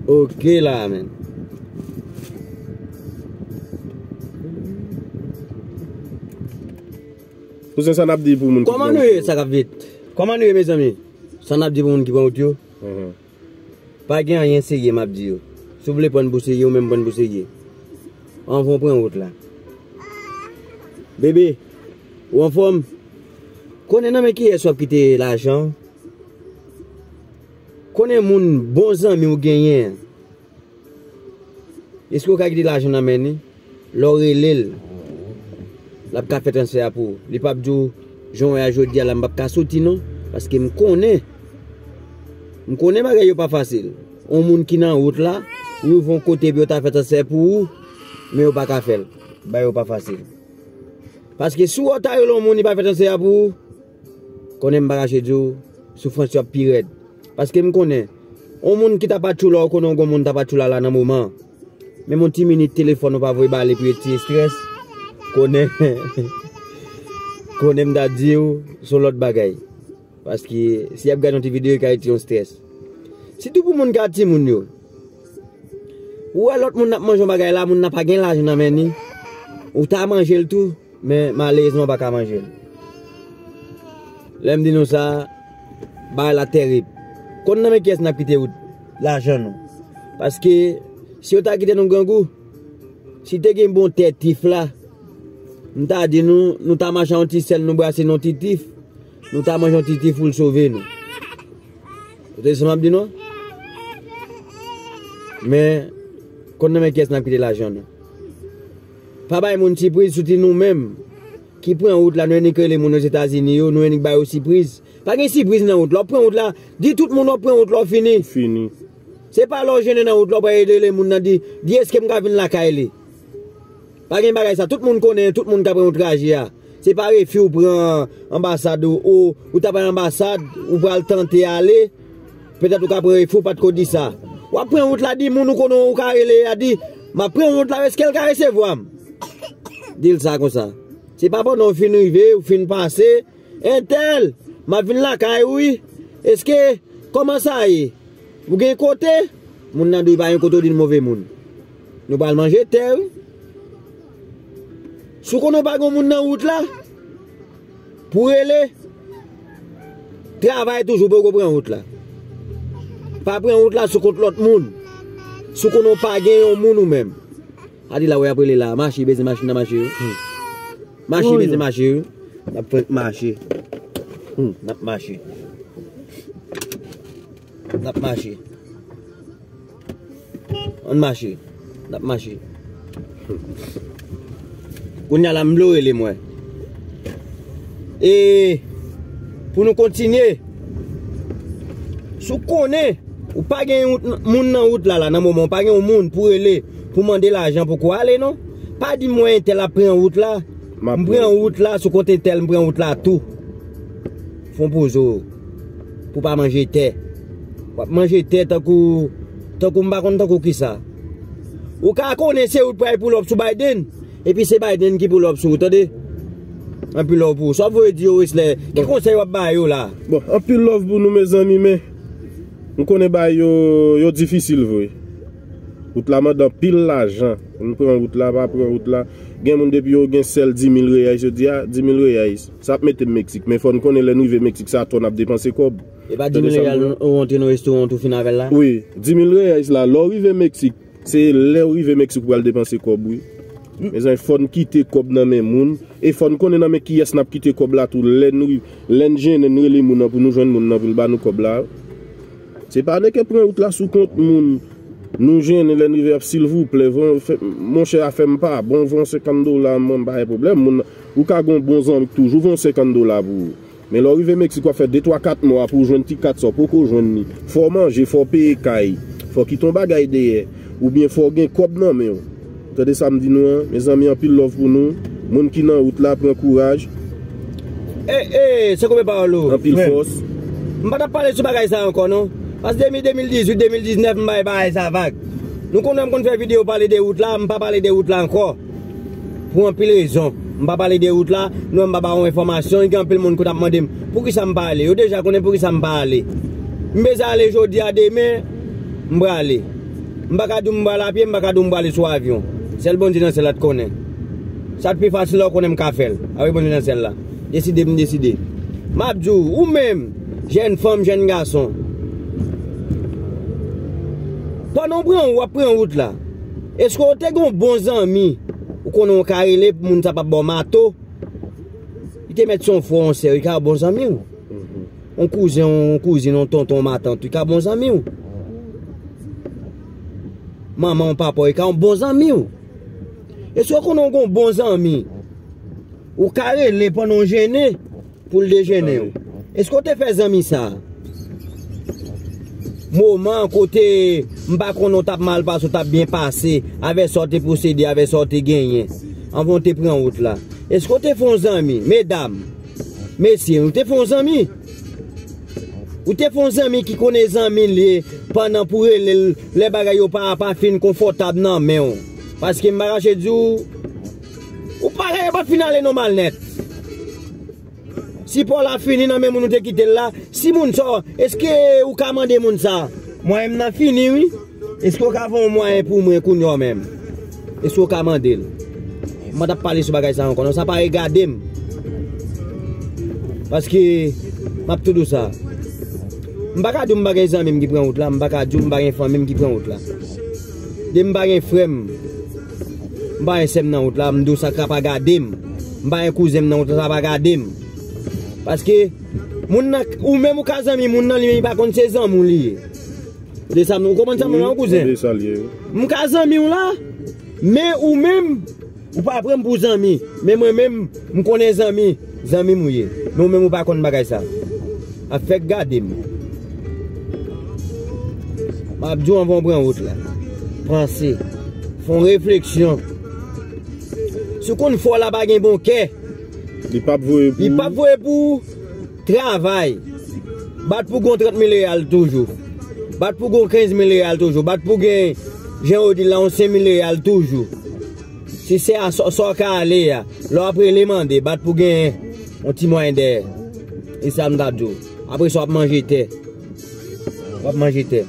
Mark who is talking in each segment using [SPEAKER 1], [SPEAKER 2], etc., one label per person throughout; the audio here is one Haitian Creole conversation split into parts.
[SPEAKER 1] Ok la men.
[SPEAKER 2] Kouzen sa nap di pou moun ki pran wout yo. Koman nou ye sa kap fet?
[SPEAKER 1] Koman nou ye mezanmi? Sa nap di pou moun ki pran wout yo? Pa gen anyen serye map di yo. Si w vle pran pou serye ou menm pran pou serye. Anvan w pran wout la. Bebe, ou anfom? Konnen nan men kiyes wap kite lajan w? Konnen moun bon zanmi w genyen an. Eske w ka kite lajan nan men li? Lè w rele l, l ap ka fè transfè a pou ou. Li pap di w, jan w wè a jodi a la m pap ka soti non, paske m konnen, m konnen bagay yo pa fasil. On moun ki nan wout la, ou rive on kote epi yo ta fè transfè pou ou, men yo pa ka fè l. Bagay yo pa fasil. Paske si w wè w ta rele on moun li pa fè transfè a pou ou. Konnen m pa kache di w, soufrans yo ap pi rèd. Paske m konnen, yon moun ki ta pa tjou la ou konnen w gen yon moun ta pa tjou la la nan moman an. Menm yon ti minit telefòn ou pa voye ba li pou yon ti estrès, konnen, konnen m ta di w, son lòt bagay. Paske, si y ap gad yon ti videyo ka rete yon estrès. Sitou pou moun ki a timoun yo. Ou wè lòt moun ap manje yon bagay la, moun nan pa gen lajan nan men ni, ou ta manje l tou. Men malerezman pa ka manjel. Lem di nou sa, bagay la terib. Kon nan men kiyes nap kite wout lajan nou. Paske si yo ta kite nou grangou, si te gen bon tè tif la, m ta di nou, nou ta mache yon ti sel nou brase yon ti tif, nou ta manje yon ti tif poul sove nou. Ou tande sa map di nou? Men kon nan men kiyes nap kite lajan nou. Pa bay moun sipriz souti nou menm ki pran wout la nou annik rele moun ozetazini yo nou annik ba yo sipriz pa gen sipriz nan wout la wap pran wout la di tout moun wap pran wout la w fini se pa lè w jennen nan wout la w pral rele moun nan di di eskem ka vin lakay li pa gen bagay sa tout moun konnen tout moun ka pran yon traje a. Se pa refi ou pran anbasad ou, ou ta pran anbasad, ou pral tante ale, petèt ou ka pran refi ou pat ko di sa. Wap pran wout la di moun ou konnen ou ka rele a di, map pran wout la eskel ka resevwa m? Dil sa konsa. Se pa pandan ou fin rive, ou fin pase, entèl, map vin lakay ou wi, eske, kòman sa ye? Ou gen kote? Moun nan dwe pa gen kote ou dil move moun. Nou pral manje tè wi. Si w konnen w pa gen yon moun nan wout la, pou rele, travay toujou pou w pa pran wout la. Pa pran wout la sou kont lòt moun. Si w konnen w pa gen yon moun ou menm. Gade la wè y ap rele la, mache beze machin nan mache. Mache beze mache. Y ap fenk mache. N ap mache. N ap mache. Ann mache, n ap mache. Kounya la m vle w rele mwen. E pou nou kontinye, si w konnen ou pa gen yon moun nan wout la la nan moman, ou pa gen yon moun pou rele pou mande l ajan pou kou ale non. Pa di mwen entèl ap pran wout la, m pran wout la sou kont entèl m pran wout la tou. Fon poze w pou pa manje tè. Wap manje tè tankou tankou m pa konn tankou kisa. Ou ka konnen se ou k pral pull up sou Biden epi se Biden ki pull up sou ou tande. Anpil love pou ou. Sa wap voye di yo Wesley? Ki konsèy wap ba yo la? Bon, anpil love pou
[SPEAKER 2] nou mezanmi men m konnen bagay yo yo difisil vre. Wout la mande anpil lajan. M pran wout la, pa pran wout la. Gen moun depi yo gen sèl 10000 reais yo di a, 10000 reais sa ap mete m Mexique men fò n konnen lè n rive Mexique sa a ton ap depanse kòb. E pa 10.000 real
[SPEAKER 1] ou antre nan restaurant ou fin avèl la? Wi, 10.000 reais
[SPEAKER 2] la lè ou rive Mexique, se lè ou rive Mexique ou pral depanse kòb wi. Mezanmi fòn kite kòb nan men moun, e fòn konnen nan men kiyès nap kite kòb la tou lè nou lèn jennen nou rele moun nan pou nou jwenn moun nan poul ba nou kòb la. Se pa neke pran wout la sou kont moun, nou jennen lèn rive ap silvouplè van fè monchè afèm pa bon van 50 dola mwen pa gen pwoblèm moun ou ka gon bon zanmi k toujou van 50 dola pou ou. Men lè w rive Meksik w ap fè de twa kat mwa pou w jwenn ti kat sa w poko jwenn li. Fò w manje, fò w peye kay, fò w kite yon bagay dèyè, oubyen fò w gen kòb nan men w. Tande sa m di nou an, mezanmi anpil love pou nou, moun ki nan wout la pran kouraj,
[SPEAKER 1] anpil fòs.
[SPEAKER 2] M pa t ap pale
[SPEAKER 1] sou bagay sa ankò non, pask depi 2018, 2019 m bay bagay sa vag. Nou konnen m konn fè videyo pale de wout la, m pa pale de wout la ankò. Pou anpil rezon. M pa pale de wout la, nou wè m pa ba ou enfòmasyon, gen anpil moun kout ap mande m poukisa m pa ale. Yo deja konnen poukisa m pa ale. M bezwen ale jodi a, demen, m prale. M pa ka di w m pral apye, m pa ka di w m prale sou avyon. Sèl Bondye nan syèl la t konnen. Sa k pi fasil la ou konnen m ka fè l, apre Bondye nan syèl la deside, m deside. M ap di w, ou menm, jèn fanm, jèn gason, pandan w pran, w ap pran wout la. Eske ou te gen yon bon zanmi ou konnen ou ka rele pou moun sa pa ba w mato? Li te mèt se yon frè, yon sè, li ka yon bon zanmi w. Yon kouzen, yon kouzin, yon tonton, yon matant, li ka bon zanmi w. Manman w, papa w, li ka yon bon zanmi w. Eske ou konnen ou gen yon bon zanmi ou ka rele pandan w jennen? Pou l dejene w. Eske w te fè zanmi sa? Moman kote m pa konnen w t ap mal pase ou t ap byen pase avèk sa w te posede, avèk sa w te genyen anvan w te pran wout la. Eske w te fè yon zanmi? Medam, mesye, ou te fè yon zanmi? Ou te fè yon zanmi ki konnen zanmi l ye pandan pou rele l lè bagay yo pa fin konfòtab nan men w? Paske m pa kache di w. Ou pare yo pap fin ale non malnet. Sipò la fini nan men moun ou te kitel la, si moun sa w, eske ou ka mande moun sa, mwayen m nan fini wi, eske ou ka fè yon mwayen pou mwen kounye w menm? Eske ou ka mande l? M pa tap pale sou bagay sa ankò non, sa pa regade m. Paske map tou dou sa. M pa ka di w m pa gen zanmi m ki pran wout la, m pa ka di w m pa gen fanmi m ki pran wout la. De m pa gen frè m. M pa wè sè m nan wout la, m di w sa ka pa gade m. M pa wè kouzen m nan wout la, sa ka pa gade m. Paske, moun nan, ou menm ou ka zanmi moun nan, li menm li pa konn se zanmi w li ye. Ou de sa m, ou konprann sa m la w kouzen? Wi, m konprann sa l ye. M ka zanmi w la, men ou menm, ou pa pran m pou zanmi. Men mwen menm, m konnen zanmi. Zanmim ou ye men ou menm ou pa konn bagay sa ap fèt gadem map diw anvan ou pran wout la panse fon refleksyon si ou konn fò la pa gen bon kè li pap voye pou ou travay bat pou gon 30 mil reyal toujou bat pou gon 15 mil reyal toujou bat pou gen jan ou di la yon 5 mil reyal toujou. Si se a sa w ka ale a. Lè w ap rele mande, bat pou gen yon ti mwayen dèyè. E sa m ta di w. Apre sa w ap manje tè. W ap manje tè.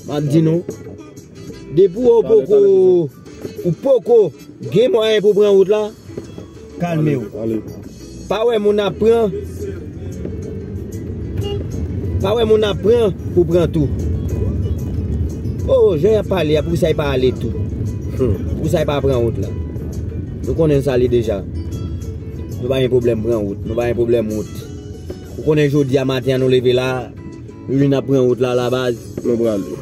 [SPEAKER 1] M ap di nou. Depi w poko. Ou poko gen mwayen pou pran wout la. Kalmew. Pa wè moun ap pran Pa wè moun ap pran pou pran tou. Oh jan yap pale a pou sa yo pa ale tou. Pou sa yo pa pran wout la. Nou konnen sa li deja. Nou pa gen pwoblèm pran wout. Nou pa gen pwoblèm wout. Ou konnen jodi a maten an nou leve la. Nou vin ap pran wout la la baz. Nou prale.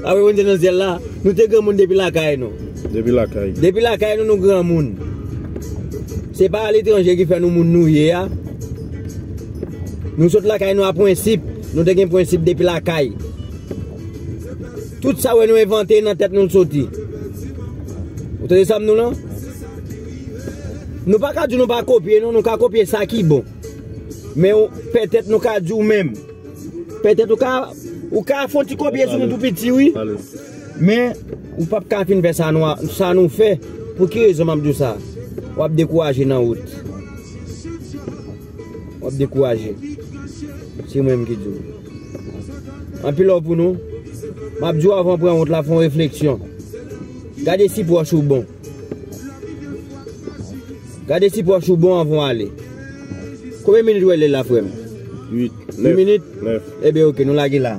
[SPEAKER 1] Apre nou te nan syèl la, nou te granmoun depi lakay nou. Depi lakay. Depi lakay nou nou granmoun. Se pa aletranje ki fè nou moun nou ye a. Nou sot lakay nou a prensip. Nou te gen prensip depi lakay. Tout sa wè nou envante nan tèt nou l soti. Ou tande sa m di w lan? Nou pa ka di nou pa kopye non, nou ka kopye sa ki bon. Men ou, pètèt nou ka di ou menm. Pètèt ou ka, ou ka fon ti kopye sou nou tou piti wi. Men, ou pap ka fin fè sa nou a, sa nou fè. Pou ki rezon map di ou sa? Wap dekouraje nan wout. Wap dekouraje. Se mwen menm ki di ou. Anpil love pou nou. Map di ou avan pran wout la, fon refleksyon. Gade si pwòch ou bon. Gade si pòch ou bon anvan w ale. Konbyen minit ou wè lè la frè m? 8 minit? Ebyen ok nou lage la.